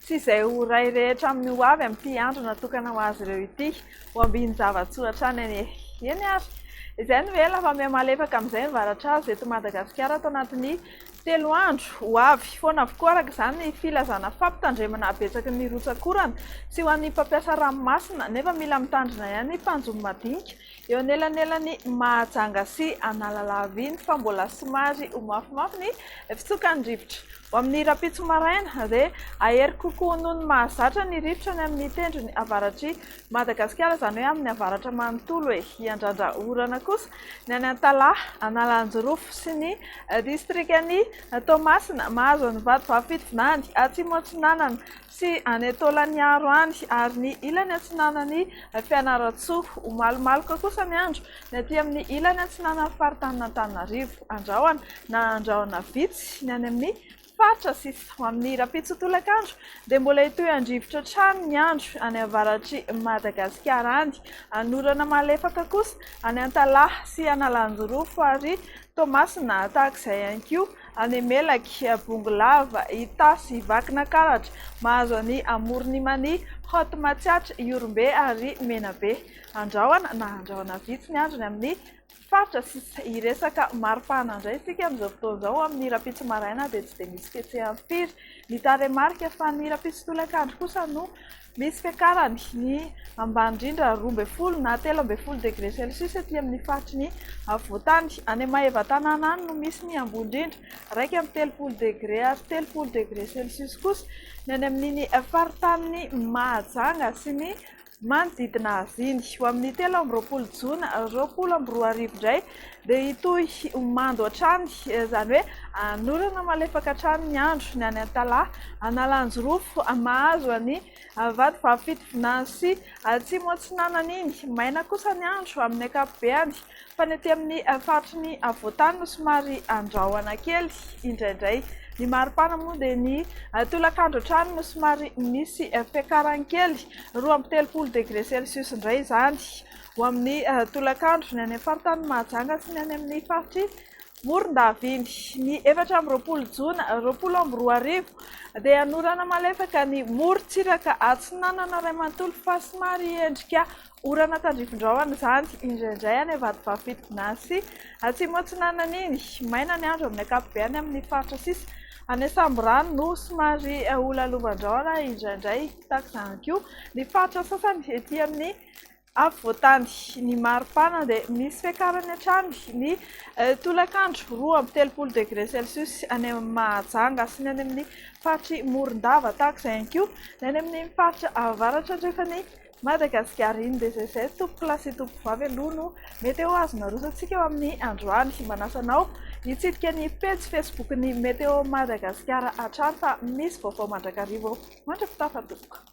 Tsy izay ho ray rehetra amin'ny ho avy amin'ity andro natokana ho azy ireo ity. Ho ambinin-java-tsoratra any anie. Eny ary. Izay no ela fa mihamalefaka amin'izay ny varatrazo eto Madagasikara ato anatin'ny telo andro ho avy. Foana avokoa araka izany ny filazana fampitandremana habetsaky ny rotsak'orana sy ho an'ny mpampiasa ranomasina nefa mila mitandrina ihany ny mpanjono madinika eo anelanelan'i Mahajanga sy Analalava iny fa mbola somary ho mafimafy ny fitsokan'ny rivotra. Ho amin'ny rahampitso maraina, dia hahery kokoa noho ny mahazatra ny rivotra any amin'ny tendrony avaratr'i Madagasikara, izany hoe amin'ny avaratra manontolo e! Hiandrandra orana kosa ny any Antalaha, Analanjirofo sy ny distrikan'i Toamasina, mahazo an'i Vatovavy-Fitovinany, Atsimo-Atsinanana, sy any Taolaniaro any, ary ny ilany atsinanan'i Fianarantsoa. Ho malomaloka kosa ny andro ny aty amin'ny ilany atsinanan'ny faritanin'Antananarivo. Andrahona na andrahona vitsy ny any amin'ny faritra sisa. Ho amin'ny rahampitso tolakandro dia mbola hitohy handrivotra hatrany ny andro any avaratr'i Madagasikara any. Hanorana malefaka kosa any Antalaha sy Analanjirofo ary Toamasina tahaka izay ihany koa Any Melaky, Bongolava, Itasy, Vakinankaratra, Mahazo any Amoron'Imania, Haute Matsiatra, Ihorombe ary Menabe. Andrahona na andrahona vitsy ny andro ny amin'ny faritra sisa. Hiresaka mari-pahana indray isika amin'izao fotoana izao. Amin'ny rahampitso maraina dia tsy dia misy fihetseham-piry ny tarehimarika fa ny rahampitso tolakandro kosa no Misy fiakarany ny ambany indrindra roa ambin'ny folo na telo ambin'ny folo degré celcius ety amin'ny faritry ny afovoantany. Any Maevatanàna any no misy ny ambony indrindra, iraika amby telopolo degré ary telopolo degré celcius kosa ny any amin'iny faritanin'i Mahajanga sy ny manodidina azy iny. Ho amin'ny telo amby roapolo jona roapolo amby roa arivo indray dia hitohy ho mando hatrany, izany hoe hanorana malefaka hatrany ny andro, ny any Antalaha, Analanjirofo, mahazo an'i Vatovavy Fitovinany sy Atsimo Atsinanana iny. Maina kosa ny andro amin'ny ankapobeny, fa ny ety amin'ny faritry ny afovoantany no somary andrahona kely indraindray. Ny maripana moa dia ny tolakandro hatrany no somary misy fiakarany kely, roa amby telopolo degre celsius indray izany. ho amin'ny tolakandro ny any amin'ny faritany Mahajanga sy ny any amin'ny faritr'i Morondaviny. Ny efatra amby roapolo jona roapolo amby roa arivo dia hanorana malefaka ny morontsiraka atsinanana iray manontolo fa somary hiendrika orana tandrifindrahona izany indraindray any Vatovavy-Fitokona sy Atsimo Atsinanan'iny. Maina ny andro amin'ny ankapobeany amin'ny faritra sisa any Ansamborano no somary ho lalovandrahona indraindray tahaka izany koa ny faritra sasany ety amin'ny Afovoantany, ny maripana dia misy fiakarany hatrany ny tolakandro, roa amby telopolo degre celcius any amin'ny Mahajanga sy ny any amin'ny faritry Morondava, tahaka izay ihany koa ny any amin'ny faritra avaratra andrefan'i Madagasikara. Iny dia izay izay tompokolahy sy tompokovavy aloha no meteo azon'ny Aroso antsika eo amin'ny androany. Manasa anao hitsidika ny pejy facebook ny Meteo Madagasikara hatrany fa misy vaovao mandrakariva eo mandra-pitaha fa tompoko.